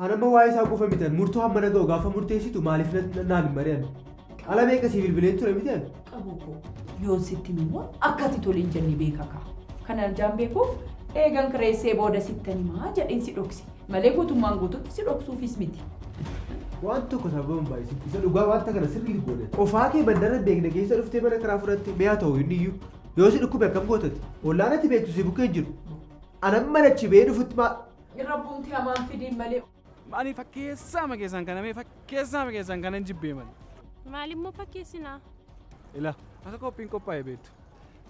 Anamma waa'ee isaa qofa mitan murtoo hamma na ga'u gaafa murteessitu maaliif na- naaf hin mari'an? Ala meeqa sii bilbileen ture mitan? Qabu koo yoon sitti immoo akkati tole hin jenne beeka kaa. Kanaan jaan beekuuf eegan kireessee booda sittan himaa jedheen si dhokse. malee guutummaan guututti si dhoksuufis miti. Waan tokko sababa hin baay'isin. Isa dhugaa wanta kana sirriitti goone. Qofaa kee mandara hin beekne keessa dhuftee mana karaa fudhatte mi'a ta'u inni iyyuu. Yoo si dhukkube akkam gootati? Ollaan ati beektu si bukkee hin jiru. Anan manachi ba'ee dhufutti maa... Rabbuumti hamaan fidiin malee. Maaliif fakkeessaa ma keessaan kana mee fakkeessaa ma keessaan kana hin jibbee malee. Maalimmoo fakkeessinaa? Ila akka qophiin qophaa'e beektu.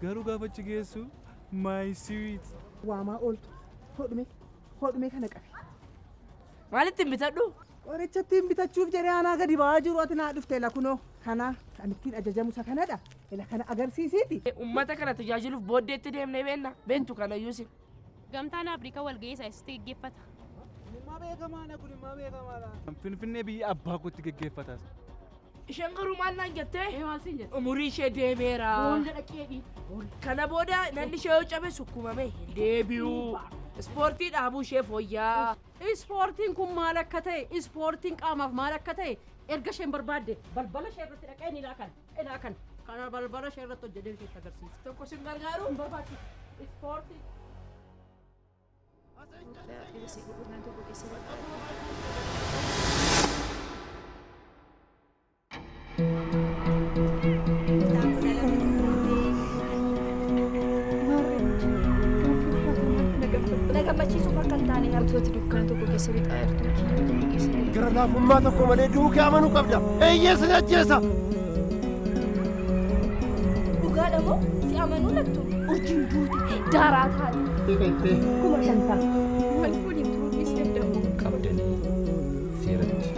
Garuu gaafa achi geessu my sweet. Waamaa ooltu. Hodhume. Hodhumee kana qabi. Maalittiin bitadhu? Qorichattiin bitachuuf jedhee anaa gadi ba'aa jiru ati naa dhufte ila kunoo kana kan ittiin ajajamu isa kanadha ila kana agarsiisiiti. Uummata kana tajaajiluuf booddeetti deemnee beenna beektu kana yuusin. Gamtaan Afrikaa walga'ii isaa eessatti geggeeffata? Dhimma beekamaadha kun dhimma beekamaadha. Finfinnee biyya abbaa kootti geggeeffataas. Isheen garuu maal naan jettee? Ee maal siin jette? Umurii ishee deemeera. Boolla dhaqeedhi. Kana booda nan ishee yoo cabe sukkumamee hin deebi'u. Ispoortii dhaabuu ishee fooyyaa. Ispoortiin kun maal akka ta'e, ispoortiin qaamaaf maal akka ta'e erga isheen barbaadde balbala ishee irratti dhaqee ni laakan, ilaakan. Kana balbala ishee irratti hojjetee isheetti agarsiisa. Tokko sin gargaaru? Hin barbaachisu. Ispoortii. Na gammachiisuuf akka hin taane yaadu. Wantoota dukkaana tokko keessa lixaa jirtu keenya tokko keessa lixaa. Gara laafummaa tokko malee du'uu kee amanuu qabda. Eeyyee sin ajjeesa. Dhugaadha moo si amanuu lattu? Urjiin duute daaraa taate. Kuma shantama. Wal fuudhin turuu dhiisne dahoo. qabdanii seeratti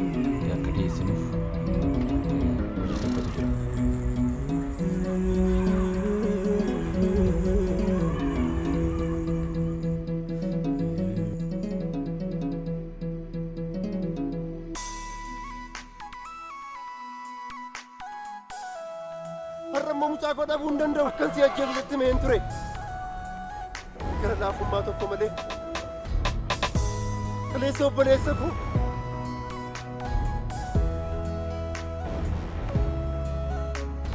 akka dhiyeessinuuf eh, hojii tokkotu jira. Har'a immoo mucaa koo dhabuu hin danda'u. Akkan si ajjeesu sitti mee hin ture. Gara laafummaa tokko malee. Kaleessa obboleessa koo.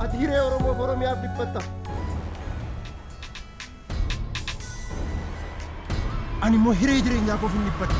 Ati hiree Oromoof Oromiyaaf dhiphatta. Ani immoo hiree jireenyaa koof hin dhibbadhu.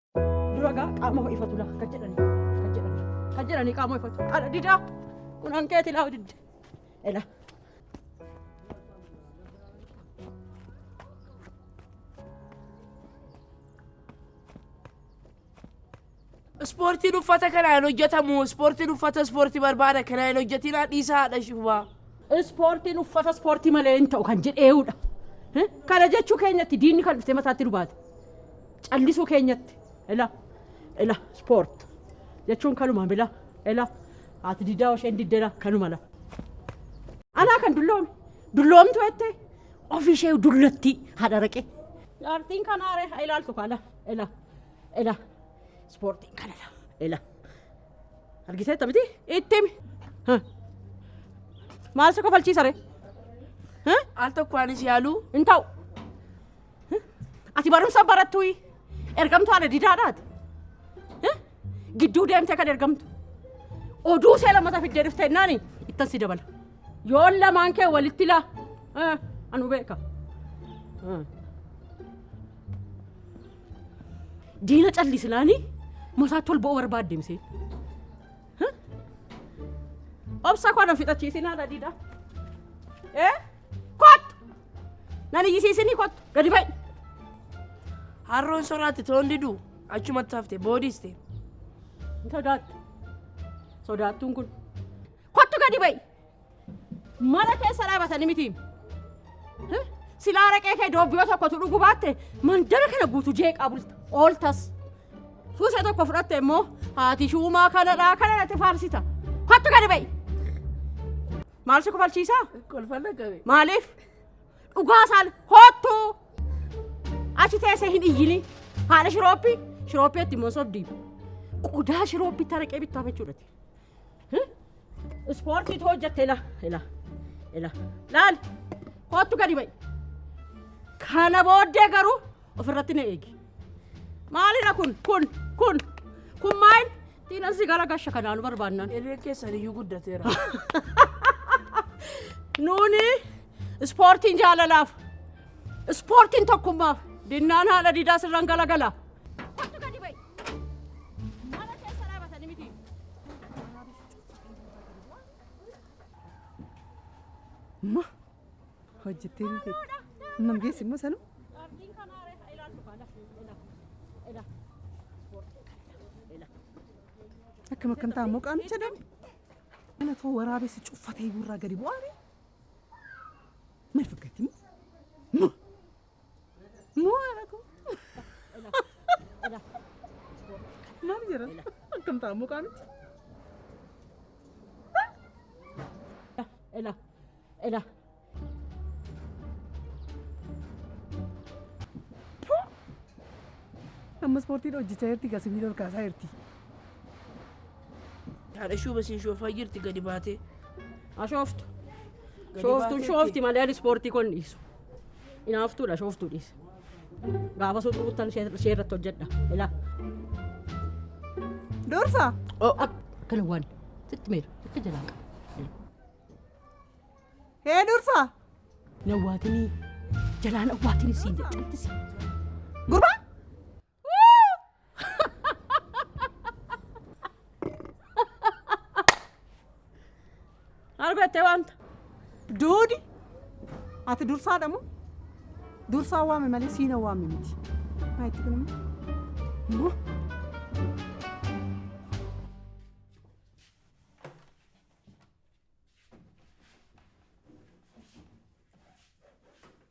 Dura gaa qaama ho'ifatu laa kan jedhani kan jedhani kan jedhani qaama ho'ifatu kana didaa kun hankeeti laa didde ela. Ispoortiin uffata kanaan hojjetamu ispoortiin uffata ispoortii barbaada kanaan hin hojjetinaa dhiisaa haadha shubaa. Ispoortiin uffata ispoortii malee hin ta'u kan jedheeudha. Kana jechuu keenyatti diinni kan dhuftee mataatti dubaate. callisuu keenyatti ila ila sport jechuun kanuma bila ila haati didaa isheen diddela kanuma la anaa kan dulloome dulloomtu jettee ofii ishee dullattii haadha raqee jaartiin kanaa ree haa ilaaltu kaala ila ila ispoortiin kana la ila argisee tamiti itti himi Ha. maal si kofalchiisa ree Ha? Al tokko anis yaaluu hin ta'u Hah? Ati barumsa barattuyi. Ergamtuu haadha didaadhaati. Hah? Gidduu deemtee kan ergamtu. Oduu ishee lammata fiddee dhufte jennaani ittan si dabala. Yoon lamaan kee walitti laa. Hah? Anu beeka. Hah. Diina callisnaani masaatti ol ba'uu barbaadde misee. Hah? Obsa koo na fixachiisin haadha didaa. Eh? Kottu! Nan iyyisiisinii kottu! Gadi ba'i! Harroon soraatti toon diduu achumatti hafte boodiste. Hin sodaattu. Sodaattuun kun. Kottu gadi ba'i! Mana keessa dhaabatanii miti. Eh, Silaa raqee kee doobbiyoo tokkotu dhugu baatte mandara kana guutu jeeqaa bulta. Ooltas. Suusee tokko fudhatte immoo haati shuumaa kanadhaa kana natti faarsita. Kottu gadi ba'i! Maal si kofalchiisaa? Kolfan dhaqqabe. Maaliif? Dhugaa isaan hoottu! Achi teessee hin iyyini. Haadha shirooppii shirooppii itti immoo sobdii. Qodaa shirooppii taraqee bittaa jechuudhati. Ispoortiitu hojjette ila ila ila laal hoottu gadi ba'i. Kana booddee garuu ofirratti na eegi. Maalidha kun kun kun kun maal? Diinan si gara gasha kanaa nu barbaannan. Hirreen keessan iyyuu guddateera. Nuuni ispoortiin jaalalaaf, ispoortiin tokkummaaf, dinnaan haadha diidaa sirran galagala. Kottu gadi ba'i. Mana keessa dhaabatani miti. Ma Hojjettiin feetti. Humna hin geessu immoo sanuu. Qaardiin kanaa ree haa ilaallu kaa lafi ila ila ispoortii kana ila. Akkam akkam ta'a immoo qaamicha dam. Kana too waraabessi cuffatee gurraa gadi bu'aare. Maal fakkaatti immoo? Moo haadhatu? Maal jira? Akkam ta'a mukaa miti? Ela, ela. Amma ispoortiin hojjechaa jirti gaa sibiila ol kaasaa jirti. Haadha shuuba siin shoofaa jirti gadi baatee. Ashooftu. Gadi Shooftuun baatee shoofti malee ani ispoortii kun dhiisu. Inaaftuudha shooftuu dhiise. Gaafa sun dhuguttan ishee irratti hojjedha. Ilaa. Dursa. Akkana waan sitti meera akka jalaa qaba. Hee dursa. Nawwaatinii jalaan awwaatinii siin jedhamtisi. Gurbaa. Argattee wanta. Doodi ati dursaadha moo? Dursaa waame malee siina waame miti. Maa itti kun immoo.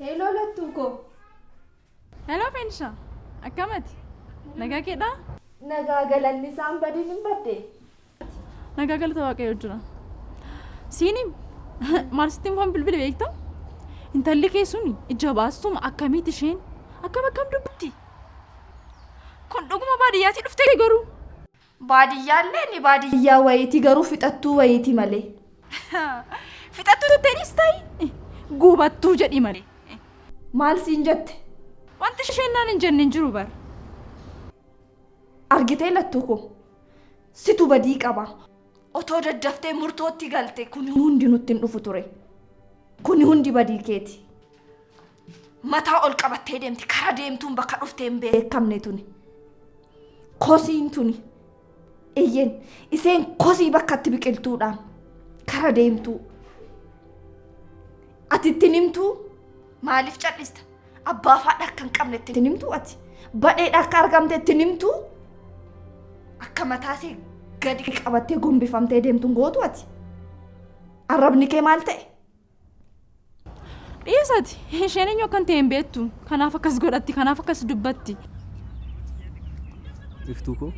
Heloo lattuu koo. Heloo Fensha. Akkamati? Nagaa keedhaa? Nagaa galanni isaan badiin hin badde. Nagaa galata waaqayyoo jira. Siini maarsitti waan bilbile beektaa? Intalli kee suni ija baastuma akkamiiti isheen? Akkam akkam dubbatti? Kun dhuguma baadiyyaatti dhuftee garuu? Baadiyyaallee ni baadiyyaa wayiiti garuu fixattuu wayiiti malee. Fixattuu jetteeniis ta'i guubattuu jedhi malee. Maal siin jette? Wanti isheen naan hin jenne hin jiru bar. Argitee lattuu koo situ badii qaba. Otoo daddaftee murtootti galte kuni hundi nutti hin dhufu ture. Kuni hundi badii keeti. Mataa ol qabattee deemti. Karaa deemtuun bakka dhuftee hin beekamne tuni. Kosiin tuni. Eyyeen iseen kosii bakka itti biqiltuudhaan karaa deemtuu. Ati ittiin himtuu maaliif cal'ista? Abbaa faadha akka hin qabne ittiin himtuu ati. Badheedha akka argamte ittiin himtuu akka mataasee gadi qabattee gombifamtee deemtuun gootu ati. Arrabni kee maal ta'e? Dhiisati isheen eenyu akkan ta'e hin beektu. Kanaaf akkas godhatti, kanaaf akkas dubbatti. Iftuu koo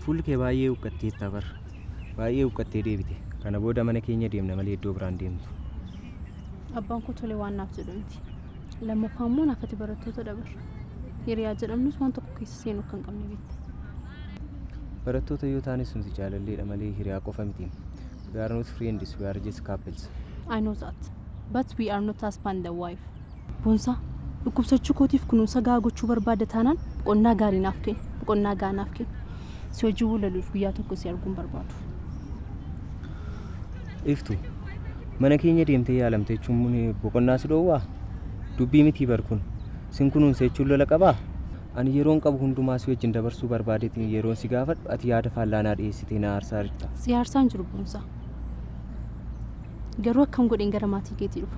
fuulli kee baay'ee huqqatteetta bar. Baay'ee huqqattee deebite. Kana booda mana keenya deemna malee iddoo biraan deemtu. Abbaan koo tolee waan naaf jedhu miti. Lammaffaa immoo naaf ati barattoota dabar. Hiriyaa jedhamnus waan tokko keessa seenuu akka hin qabne beekta. Barattoota yoo taanes nuti jaalalleedha malee hiriyaa qofa miti. We are not friends, we are just couples. I know that. But we are not husband and wife. Boonsaa, dhukkubsachuu kootiif kunuunsa gahaa gochuu barbaadda taanaan boqonnaa gaarii naaf kenni, boqonnaa gahaa naaf kenni. Si wajjin walaluuf guyyaa tokko si arguun barbaadu. Iftu, mana keenya deemtee yaalamte jechuun mun boqonnaa si dhoowwaa? Dubbii mitii bar kun. Sin kunuunsa jechuun lola qabaa? Ani yeroon qabu hundumaa si wajjin dabarsuu barbaadeetiin yeroon si gaafadhu ati yaada faallaa naa dhiyeessitee na aarsaa jirta. Si aarsaa hin jiru Boonsaa. Garuu akkam godheen gara maatii keetii dhufa?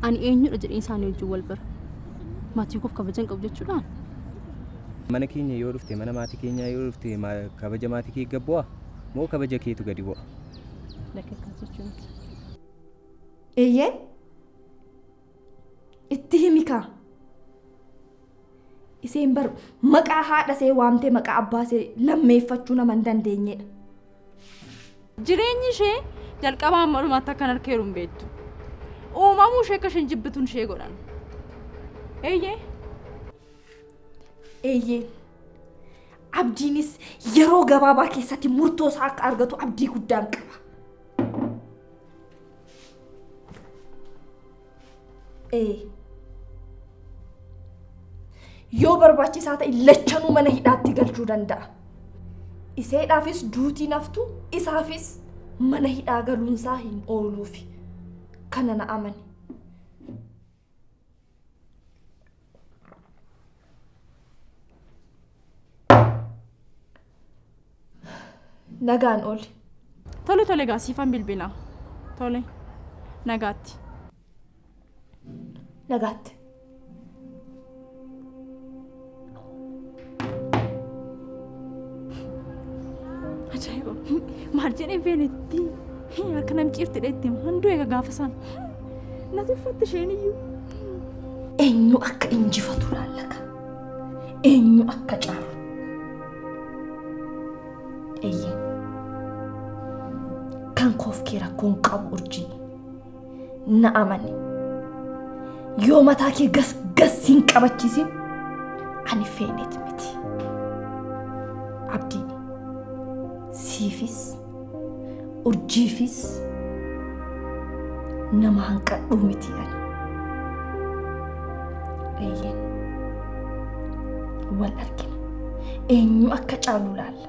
Ani eenyudha jedheen isaanii wajjin wal bara? Maatii koof kabaja hin qabu jechuudhaa? Mana keenya yoo dhufte, mana maatii keenyaa yoo dhufte ma- kabaja maatii kee gad bu'aa? Moo kabaja keetu gadi bu'a? Lakki akkas jechuu miti. Eeyyeen Itti himi kaa. Iseen bar maqaa haadha see waamtee maqaa abbaa see lammeeffachuu nama hin dandeenyedha. Jireenyi ishee jalqabaa amma dhumaatti akkan harkeeru hin beektu. Uumamuu ishee akka isheen jibbituun ishee godhan. Eeyyee. Eeyyee. Abdiinis yeroo gabaabaa keessatti murtoo isaa akka argatu abdii guddaan qaba. Ee. Yoo barbaachisaa ta'e lachanuu mana hidhaatti galchuu danda'a. Iseedhaafis duutiin haftu isaafis mana hidhaa galuunsaa hin ooluufi. Kana na amani. Nagaan ooli. Tole tole gaa siifan bilbilaa. Tole nagaatti. Nagaatti. Ajaa'iba. Maal jedhee feenitti akka nam ciirtidha itti handuu eega gaafa sana. Nati uffatte isheen iyyuu. Eenyu akka injifatu laallaka. Eenyu akka caalu. Eeyyee. Kan koof kee rakkoon qabu urjii. na amani yoo mataa kee gas gas hin qabachiisin ani feeneet miti abdii siifis urjiifis nama hanqadhuu miti ani eeyyeen wal argina eenyu akka caalu laalla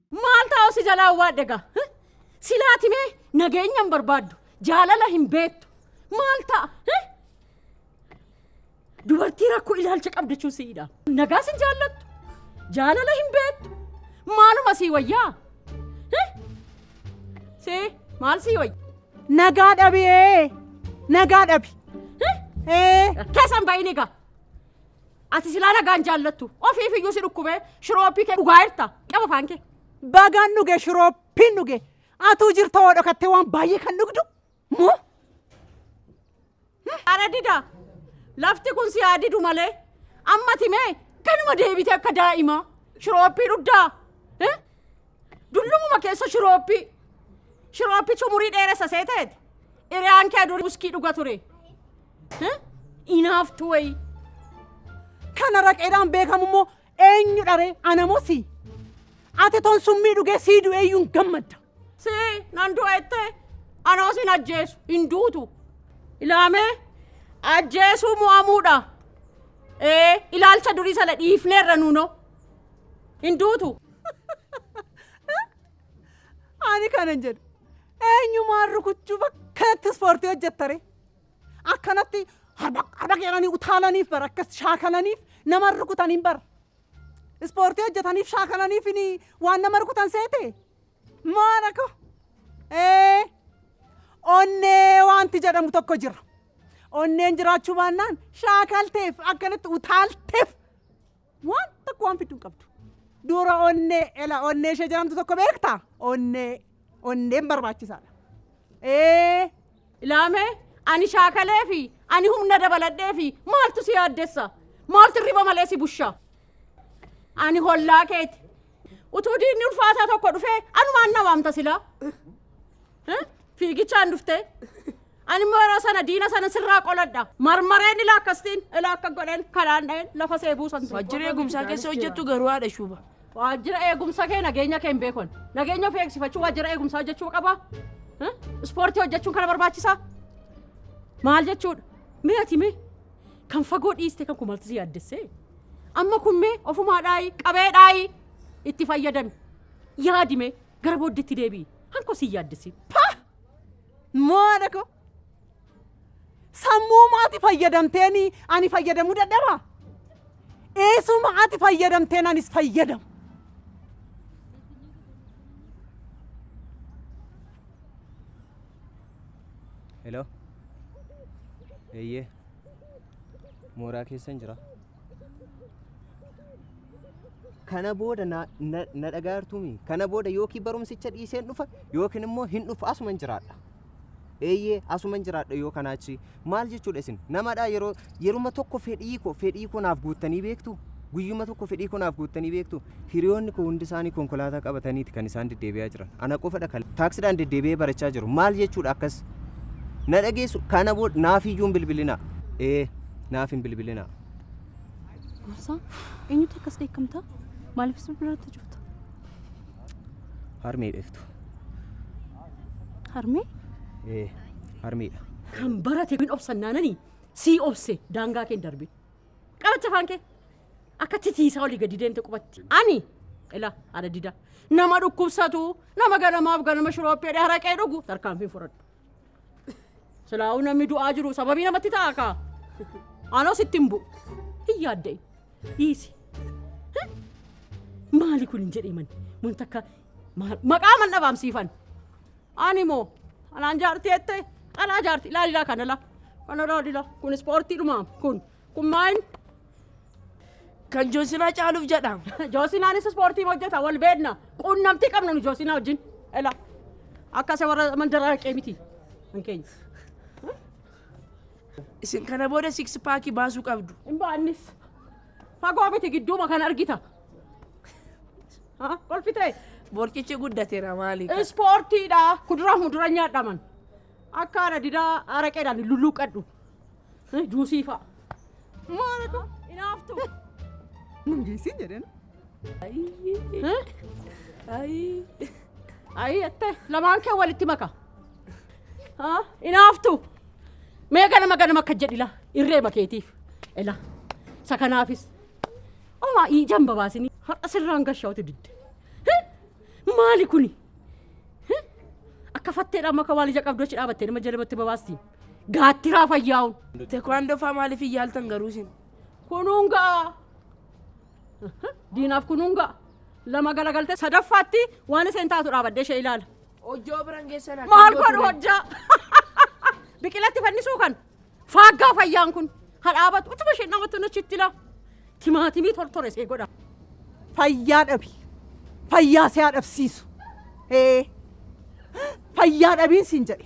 Maal taa'u si jalaa waadhe gaa? Hi? Silaati mee nageenya hin barbaaddu, jaalala hin beektu. Maal ta'a? Hi? Dubartii rakkoo ilaalcha qabda jechuun si'idha. Nagaas hin jaallattu, jaalala hin beektu. Maaluma sii wayyaa? Hi? Si maal sii wayya? Nagaa dhabi ee. Nagaa dhabi. Hi? Ee. Keessan ba'iin egaa. Ati silaa nagaan jaallattu. Ofiif iyyuu si dhukkubee shirooppii kee dhugaa jirta. Qaba afaan kee. Bagaan dhuge shirooppiin dhuge. Atuu jirta waa dhokattee waan baay'ee kan dhugdu. Moo? Ara dida. Lafti kun si haa didu malee. Amma timee kanuma deebite akka daa'imaa. Shirooppii dhugdaa. Eh? Dullumuma keessa shirooppii. Shirooppii cumurii dheeressa seeteeti. Iriyaan kee durii uskii dhuga ture. Hah? Inaaftu wayii. Kana raqeedhaan beekamu immoo eenyu dharee anamosi. Ati toon summii dhugee sii du'ee iyyuu hin gammadda. Si nan du'ette anoo sin ajjeesu hin duutu. Ilaamee ajjeesuu mo'amuudha. Ee ilaalcha durii sana dhiifneerra nuunoo. Hin duutu. Ani kanan jedhu eenyumaan rukuchuuf akkanatti ispoortii hojjettare. Akkanatti harba harba jedhanii utaalaniif bara akkas shaakalaniif nama rukutaniin bara. Ispoortii hojjetaniif shaakalaniif ini waan nama rukutan seete. Maana ko. Ee onnee wanti jedhamu tokko jira. Onneen jiraachuu baannaan shaakalteef akkanatti utaalteef Waan tokko waan fiddu hin qabdu. Dura onnee ela onnee ishee jedhamtu tokko beektaa? Onnee onneen barbaachisaadha. Ee Ilaamee ani shaakalee fi ani humna dabaladhee fi maaltu si yaaddessa? Maaltu riba malee si busha? Ani hollaa keeti. Utuu diinni ulfaataa tokko dhufee anumaan na waamta silaa. Fiigichaan dhuftee. Ani immoo yeroo sana diina sana sirraa qoladha. Marmareen ilaa akkasitiin ilaa akka godheen kanaan dha'een lafa see buusan. Waajjira eegumsaa keessa hojjettu garuu haadha shuuba. Waajjira eegumsa kee nageenya kee hin beekon. Nageenya ofii eegsifachuu waajjira eegumsaa hojjechuu qabaa? Ispoortii hojjechuun kana barbaachisaa? Maal jechuudha? Mee ati mee kan fagoo dhiiste kan kumalti si yaaddessee? Amma kun mee ofumaa dhaayii qabee dhaayii itti fayyadami. Yaadi mee Gara booddeetti deebi'i. Hankoo si hin yaaddessin. Pah! Mo'aadha koo. Sammuuma ati fayyadamteen ani fayyadamuu dadhabaa? Eesuma ati fayyadamteen anis fayyadamu. Hello. Eeyyee. Mooraa keessan jira. kana booda na, na, na dhagaartuumi kana booda yookiin barumsicha dhiiseen dhufa yookiin immoo hin dhufu asuman jiraadha eeyyee asuman jiraadha yoo kanaa achi maal jechuudha isin namadha yeroo yeruma tokko fedhii koo fedhii koo naaf guuttanii beektu guyyuma tokko fedhii koo naaf guuttanii beektu Hiriyoonni koo hundisaanii konkolaataa qabataniiti kan isaan deddeebi'aa jiran. Ana qofadha kan taaksiidhaan deddeebi'ee barachaa jiru. Maal jechuudha akkas? Na dhageessu kana booda naaf iyyuu hin bilbilinaa. Ee, naaf hin bilbilinaa. Gorsaa, eenyutu akkas dheekkamta? Maaliifis bilbilaatti cufta? Harmee dheeftu. Harmee? Ee, harmeedha. Kan barate hin obsannaananii sii obse daangaa kee hin darbe. Qabacha afaan kee. Akka titiisaa olii gadi deemte qubatti. Ani ila haadha dida nama dhukkubsatu nama ganamaaf ganama shirooppee haraqee dhugu tarkaanfiin fudhadhu. Silaa'uu namni du'aa jiru sababii namatti ta'a kaa. Anoo sitti hin bu'u. Hin yaadda'in. Dhiisi. Hah? Maali kun hin jedhee mani? Mun takka maal- maqaa man dhabaamsiifan. Ani moo anaan jaartii jettee dhalaa jaartii ilaalilaa kana laa. Kana ilaalilaa kun ispoortii dhumaa kun Kun maal? Kan Joosinaa caaluuf jedha. Joosinaanis ispoortii hojjeta wal beekna. Quunnamtii qabna nu Joosinaa wajjin. Ela akka isa warra mandaraa haqee miti. Kan keenya. Isin kana booda six paakii baasuu qabdu. Hin baannis. Fagoo miti gidduuma kan argita. Ha? Kolfitee? Borcichi guddateera maali? Ispoortiidha. Kuduraa fi muduraa nyaadhaman. Akka ana didaa araqeedhaan hin lulluuqqadhu. Eh, Juusii fa'a. Maalatu inaaftu. Nun geessiin jedhan. Ayii. Ayii attee lamaan kee walitti maka. Haa inaaftu. Mee ganama ganama akka jedhila irree makeetiif. Ela isa kanaafis. Omaa ijaan babaasini har'a sirraan gashaa'utu didde. Heh, Maali kuni? Heh, Akka fatteedhaan maka waan ija qabdu achi dhaabattee nama jalabatti babaasti. Gaattiraa fayyaa'uun. Tekwaandoo faa maaliif hin yaaltan garuu isin? Kunuun ga'a. Diinaaf kunuun ga'a. Lama galagaltee sadaffaatti waan isheen taatu dhaabadde ishee ilaala. Hojjoo biran geessan akka Maal yoo godhu ture. hojjaa? Biqilatti fannisuu kan faaggaa fayyaan kun ha dhaabatu utuma isheen dhaabatu nachitti ilaa. Timaatimii tortore ishee godha. Fayyaa dhabi. Fayyaa si haa dhabsiisu. Ee. Fayyaa dhabiin siin jedhe.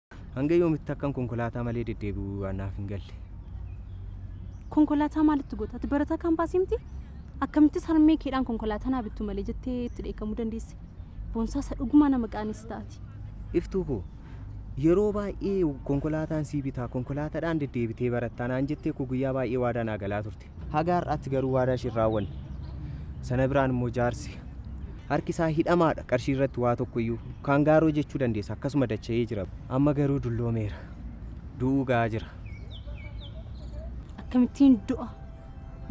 Hanga yoomitti akkan konkolaataa malee deddeebi'u waan naaf hin galle. Konkolaataa maalitti goota? Ati barataa kaampaasii miti? Akkamittis harmee keedhaan konkolaataa naa bittu malee jettee itti dheekkamuu dandeesse? Boonsaa isa dhugumaa nama qaanessita ati. Iftuu koo yeroo baay'ee konkolaataan sii bitaa konkolaataadhaan deddeebitee barattaa naan jettee koo guyyaa baay'ee waadaa naa galaa turte. Haga har'aatti garuu waadaa ishee hin raawwanne. Sana biraan immoo jaarsi harki isaa hidhamaadha qarshii irratti waa tokko iyyuu kaan gaaroo jechuu dandeessa akkasuma dacha'ee jira. Amma garuu dulloomeera. Du'uu ga'aa jira. Akkamittiin du'a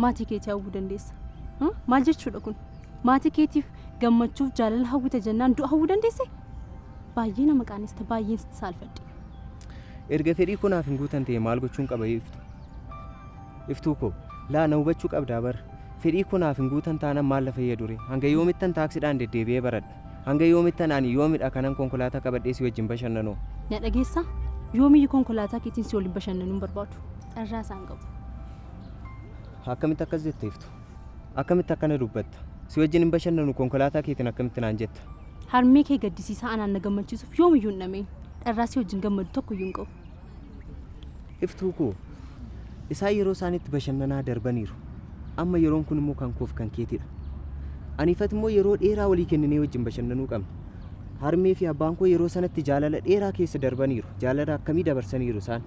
maatii keetii hawwuu dandeessa? Hã? Maal jechuudha kun? Maatii keetiif gammachuuf jaalala hawwita jennaan du'a hawwuu dandeesse? Baay'ee nama qaanista, baay'een sitti saalfadhe. Erga fedhii koo naaf hin guutan ta'e maal gochuun qaba iftu? Iftuu koo. Laa na hubachuu qabdaa bar. Fedhii koo naaf hin guutan taanan maal na fayyaduree? Hanga yoomittan taaksiidhaan deddeebi'ee baradha? Hanga yoomittan ani yoomidha kanan konkolaataa qabadhee si wajjin bashannanoo? Na dhageessaa? Yoomiyyu konkolaataa keetiin si waliin bashannanuu hin barbaadu. Carraa isaa hin qabu. Akkamitti akkas jetta Iftuu? Akkamitti akkana dubbatta? Si wajjin hin bashannanu konkolaataa keetiin akkamitti naan jetta? Harmee kee gaddisiisaa anaan na gammachiisuuf yoomiyyuu hin dhama'in. Carraa si wajjin gammadu tokkoyyuu hin qabu. Iftuu koo, isaan yeroo isaaniitti bashannanaa darbaniiru. Amma yeroon kun immoo kan koof kan keetidha. Ani ifat immoo yeroo dheeraa walii kenninee wajjin bashannanuu qabna. Harmee fi abbaan koo yeroo sanatti jaalala dheeraa keessa darbaniiru. Jaalala akkamii dabarsaniiru isaan.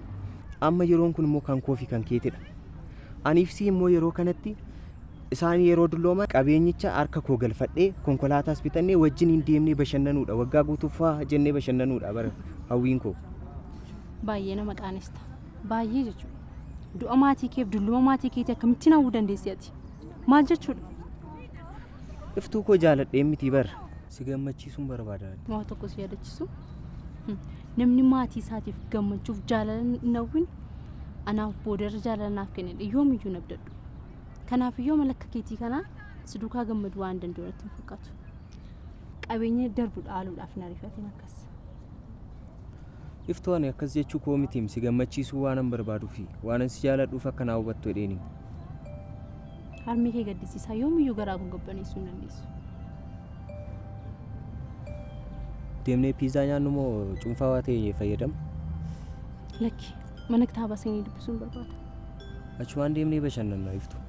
Amma yeroon kun immoo kan koofi kan keetidha. Ani ifsii immoo yeroo kanatti isaan yeroo dullooman qabeenyicha harka koo galfadhee konkolaataas bitannee wajjin hin deemnee bashannanuudha. Waggaa guutuuf faa jennee bashannanuudha bara hawwiin koo. Baay'ee nama qaanesta. Baay'ee jechuudha. Du'a maatii keef dulluma maatii keetii akkamittiin hawwuu dandeessi ati? Maal jechuudha? Iftuu koo jaaladhee mitii bar. Si gammachiisuun barbaadaan. Waa tokko si yaadachisu. Hmm. Namni maatii isaatiif gammachuuf jaalala hin hawwin anaaf boodarra jaalala naaf kennedha. Yoomiyyuu hin abdadhu. Kanaaf yoo mala akka keetii kanaa si duukaa gammadu waan danda'u natti hin fakkaatu. Qabeenya darbu dhaaluudhaaf hin ariifatin akkas. Iftuu ani akkas jechuu koo mitiim si gammachiisuu waanan barbaaduufi waanan si jaaladhuuf akka naa hubattu jedheeniim. Harmee kee gaddisiisaa yoomiyyuu garaa koo gabbaneessuu hin dandeessu. Deemnee piizaa nyaannu moo cuunfaawaa ta'e fayyadamna? Lakki mana kitaabaa seenee dubbisuun barbaada. Achumaan deemnee bashannanna Iftuu.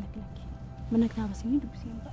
Lakki lakki mana kitaabaa seenee dubbiseen ba'a.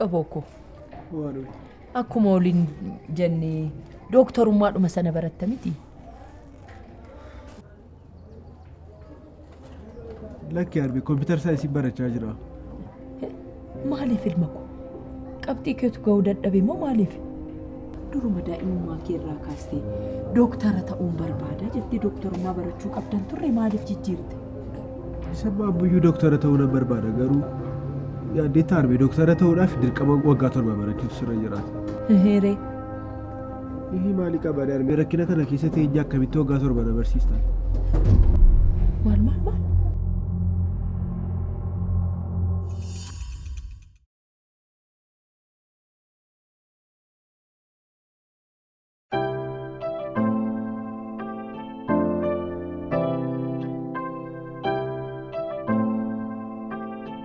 Qabookoo. Akkuma waliin jennee dooktarummaadhuma sana baratta miti. Lakki arbi kompiitar isaa isin barachaa jira. Maaliif ilma koo? Qabxii keetu ga'uu dadhabe moo maaliif? Duruma daa'imummaa kee irraa kaastee dooktara ta'uun barbaada jettee dooktarummaa barachuu qabdan turre maaliif jijjiirte? Isa baabbuyyuu dooktara ta'uu nan barbaada garuu yaaddeetta arbi dooktara ta'uudhaaf dirqama waggaa torba barachuutu sirra jiraata. Heeree Hihii maali qaba darbe rakkina kana keessa teenye akkamitti waggaa torba na barsiistan. Maal maal maal?